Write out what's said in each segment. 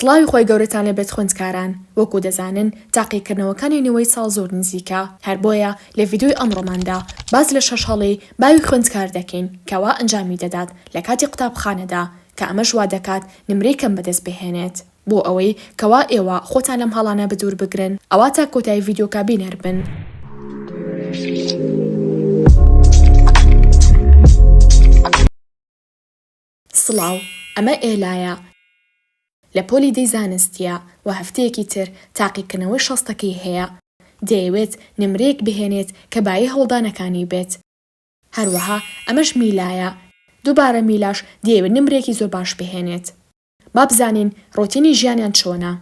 سڵاوی خوای گەورەتان لێ بێت خوێندکاران، وەکو دەزانن تاقیکردنەوەکانی نەوەی ساڵ زۆر نزیکە، هەر بۆیە لە ڤیدیۆی ئەمڕۆماندا باس لە شەش هەڵەی باوی خوێندکار دەکەین کەوا ئەنجامی دەدات لە کاتی قوتابخانەدا کە ئەمەش وادەکات نمرەی کەم بەدەست بهێنێت، بۆ ئەوەی کەوا ئێوە خۆتان لەم هەڵانە بدوور بگرن ئەوا تا کۆتایی ڤیدیۆکە بینەر بن. سڵاو، ئەمە ئێلایە لە پۆلی دەی زانستییە و هەفتەیەکی تر تاقیکردنەوەی شەستەکەی هەیە، دەیەوێت نمرەیەک بهێنێت کە بایی هەوڵدانەکانی بێت. هەروەها ئەمەش میلایە، دووبارە میلاش دەیەوێت نمرەیەکی زۆر باش بهێنێت. با بزانین ڕۆتینی ژیانیان چۆنە.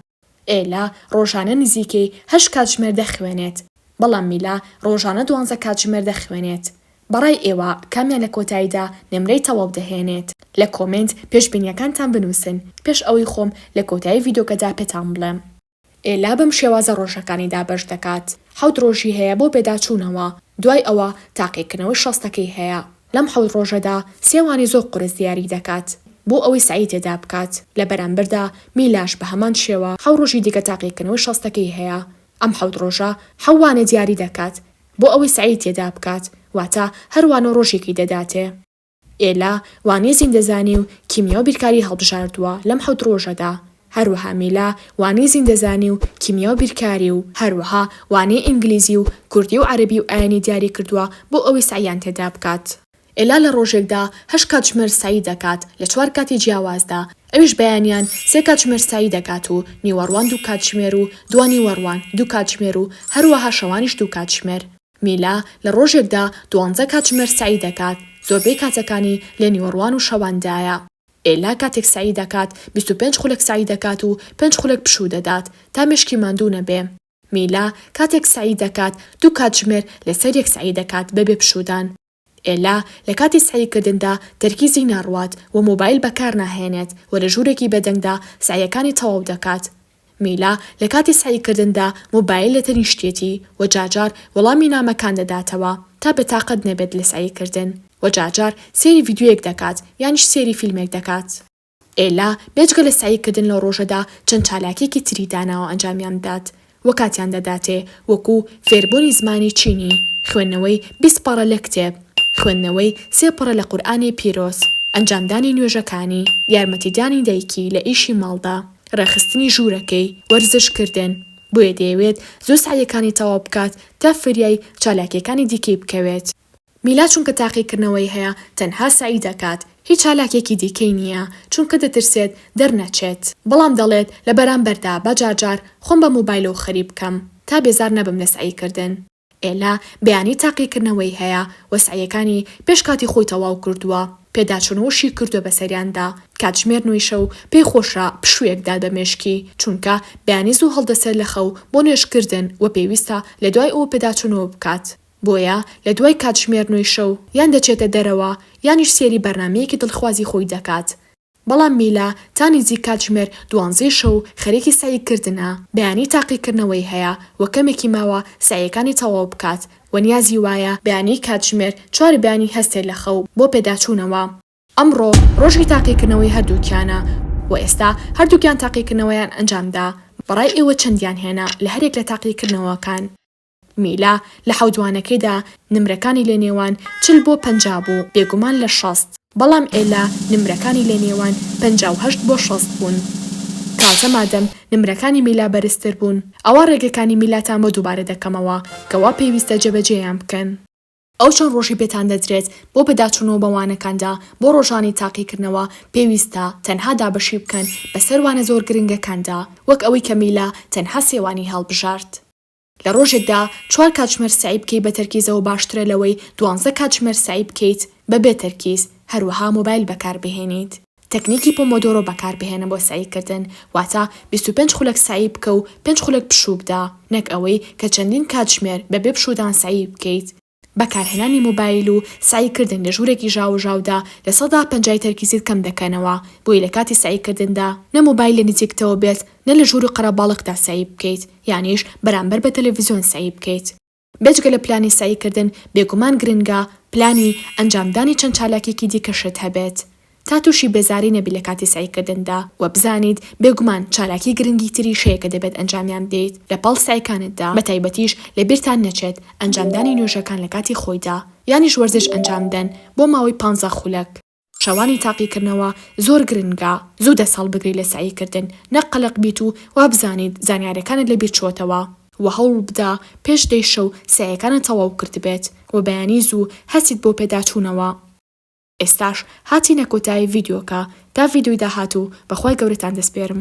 ئێلا ڕۆژانە نزیکەی هەشت کاتژمێر دەخوێنێت، بەڵام میلا ڕۆژانە دوانزە کاتژمێر دەخوێنێت. بەڕای ئێوە کامیان لە کۆتاییدا نمرەی تەواو دەهێنێت؟ لە کۆمێنت پێشبینییەکانتان بنووسن پێش ئەوەی خۆم لە کۆتایی ڤیدیۆکەدا پێتان بڵێم. ئێلا بەم شێوازە ڕۆژەکانی دابەش دەکات، حەوت ڕۆژی هەیە بۆ پێداچوونەوە، دوای ئەوە تاقیکردنەوەی شەستەکەی هەیە. لەم حەوت ڕۆژەدا سێ وانەی زۆر قورس دیاری دەکات بۆ ئەوەی سەعی تێدا بکات، لە بەرامبەردا میلاش بە هەمان شێوە حەو ڕۆژی دیکە تاقیکردنەوەی شەستەکەی هەیە. ئەم حەوت ڕۆژە حەو وانە دیاری دەکات بۆ ئەوەی سەعی تێدا بکات، واتە هەر وانە ڕۆژێکی دەداتێ. ئێلا وانەی زیندەزانی و کیمیا و بیرکاری هەڵبژاردووە لەم حەوت ڕۆژەدا، هەروەها میلا وانەی زیندەزانی و کیمیا و بیرکاری و هەروەها وانەی ئینگلیزی و کوردی و عەرەبی و ئایینی دیاری کردووە بۆ ئەوەی سەعیان تێدا بکات. ئێلا لە ڕۆژێکدا هەشت کاتژمێر سەعی دەکات لە چوار کاتی جیاوازدا، ئەویش بەیانیان سێ کاتژمێر سەعی دەکات و نیوەڕوان دوو کاتژمێر و دوانیوەڕوان دوو کاتژمێر و هەروەها شەوانیش دوو کاتژمێر. میلا لە ڕۆژێکدا دوانزە کاتژمێر سەعی دەکات، زۆربەی کاتەکانی لە نیوەڕوان و شەواندایە. ئێلا کاتێک سەعی دەکات بیست و پێنج خولەک سەعی دەکات و پێنج خولەک پشوو دەدات تا مێشکی ماندوو نەبێ. میلا کاتێک سەعی دەکات دوو کاتژمێر لەسەر یەک سەعی دەکات بەبێ پشوودان. ئێلا لە کاتی سەعی کردندا تەرکیزی ناڕوات و مۆبایل بەکار ناهێنێت و لە ژوورێکی بێدەنگدا سەعییەکانی تەواو دەکات. میلا لە کاتی سەعی کردندا مۆبایل لە تەنیشتیەتی و جار جار وەڵامی نامەکان دەداتەوە تا بە تاقەت نەبێت لە سەعی کردن و جار جار سەیری ڤیدیۆیەک دەکات یانیش سەیری فیلمێک دەکات. ئێلا بێجگە لە سەعی کردن لە ڕۆژەدا چەند چالاکیەکی تری داناوە ئەنجامیان بدات و کاتیان دەداتێ وەکو، فێربوونی زمانی چینی، خوێندنەوەی بیست پەڕە لە کتێب، خوێندنەوەی سێ پەڕە لە قورئانی پیرۆز، ئەنجامدانی نوێژەکانی، یارمەتیدانی دایکی لە ئیشی ماڵدا. ڕێکخستنی ژوورەکەی وەرزشکردن، بۆیە دەیەوێت زۆر سەعیەکانی تەواو بکات تا فریای چالاکییەکانی دیکەی بکەوێت. میلا چونکە تاقیکردنەوەی هەیە تەنها سەعی دەکات، هیچ چالاکییەکی دیکەی نییە، چونکە دەترسێت دەرنەچێت، بەڵام دەڵێت لە بەرامبەردا با جارجار خۆم بە مۆبایلەوە خەریک بکەم تا بێزار نەبم لە سەعیکردن. ئێلا بەیانی تاقیکردنەوەی هەیە و سەعیەکانی پێش کاتی خۆی تەواو کردووە، پێداچوون و شی کردووە بەسەریاندا، کاتژمێر نۆی شەو پێی خۆشە پشوویەک دات بە مێشکی، چونکە بەیانی زوو هەڵدەسێت لە خەو بۆ نوێژکردن و پێویستە لە دوای ئەوە پێداچوونەوە بکات، بۆیە لە دوای کاتژمێر نۆی شەو یان دەچێتە دەرەوە یانیش سەیری بەرنامەیەکی دڵخوازی خۆی دەکات، بەڵام میلا تا نیزیک کاتژمێر دوانزەی شەو خەریکی سەعی کردنە، بەیانی تاقی کردنەوەی هەیە و کەمێکی ماوە سەعیەکانی تەواو بکات و نیازی وایە بەیانی کاتژمێر چوار بەیانی هەستێت لە خەو بۆ پێداچوونەوە. ئەمڕۆ ڕۆژی تاقی کردنەوەی هەردووکیانە و ئێستا هەردووکیان تاقی کردنەوەیان ئەنجامدا، بەڕای ئێوە چەندیان هێنا لە هەریەک لە تاقی کردنەوەکان؟ میلا لە حەو جوانەکەیدا نمرەکانی لە نێوان چل بۆ پەنجا بوو، بێگومان لە شەست، بەڵام ئێلا نمرەکانی لە نێوان پەنجا و هەشت بۆ شەست بوون. تازە مادەم نمرەکانی میلا بەرزتر بوون، ئەوا ڕێگەکانی میلاتان بۆ دووبارە دەکەمەوە کە وا پێویستە جێبەجێیان بکەن. ئەو چەند ڕۆژەی پێتان دەدرێت بۆ بەداچوونەوە بە وانەکاندا بۆ ڕۆژانی تاقیکردنەوە، پێویستە تەنها دابەشی بکەن بەسەر وانە زۆر گرنگەکاندا، وەک ئەوەی کە میلا تەنها سێ وانەی هەڵبژارد. لە ڕۆژێکدا چوار کاتژمێر سەعی بکەیت بە تەرکیزەوە باشترە لەوەی دوانزە کاتژمێر سەعی بکەیت بە بێ تەرکیز، هەروەها مۆبایل بەکاربهێنیت. تەکنیکی پۆمۆدۆرۆ بەکاربهێنە بۆ سەعیکردن، واتە بیست و پێنج خولەک سەعی بکە و پێنج خولەک پشوو بدە، نەک ئەوەی کە چەندین کاتژمێر بەبێ پشوودان سەعی بکەیت، بەکارهێنانی مۆبایل و سەعیکردن لە ژوورێکی ژاوەژاودا لە سەدا پەنجای تەرکیزت کەم دەکەنەوە، بۆیە لە کاتی سەعیکردندا نە مۆبایل لە نزیکتەوە بێت نە لە ژوور و قەرەباڵغدا سەعی بکەیت، یانیش بەرامبەر بە تەلەڤیزیۆن سەعی بکەیت. بێجگە لە پلانی سەعیکردن، بێگومان گرنگە پلانی ئەنجامدانی چەند چالاکییەکی دیکەشت هەبێت، تا تووشی بێزاری نەبیت لە کاتی سەعی کردندا و بزانیت بێگومان چالاکی گرنگی تریش هەیە کە دەبێت ئەنجامیان بدەیت لە پاڵ سەعیکانتدا بە تایبەتیش لە بیرتان نەچێت ئەنجامدانی نوێژەکان لە کاتی خۆیدا یانیش وەرزش ئەنجام بدەن بۆ ماوەی پانزە خولەک. شەوانی تاقی کردنەوە زۆر گرنگە زوو دەست هەڵبگریت لە سەعی کردن نەک قەلەق بیت و وابزانیت زانیارەکانت لە بیر چووەتەوە، وە هەوڵ بدە پێش دەی شەو سەعیەکانت تەواو کردبێت وە بەیانی زوو هەستیت بۆ پێداچوونەوە. ئێستاش هاتینە کۆتایی ڤیدیۆکە تا ڤیدیۆی داهاتوو بەخوای گەورەتان دەسپێرم.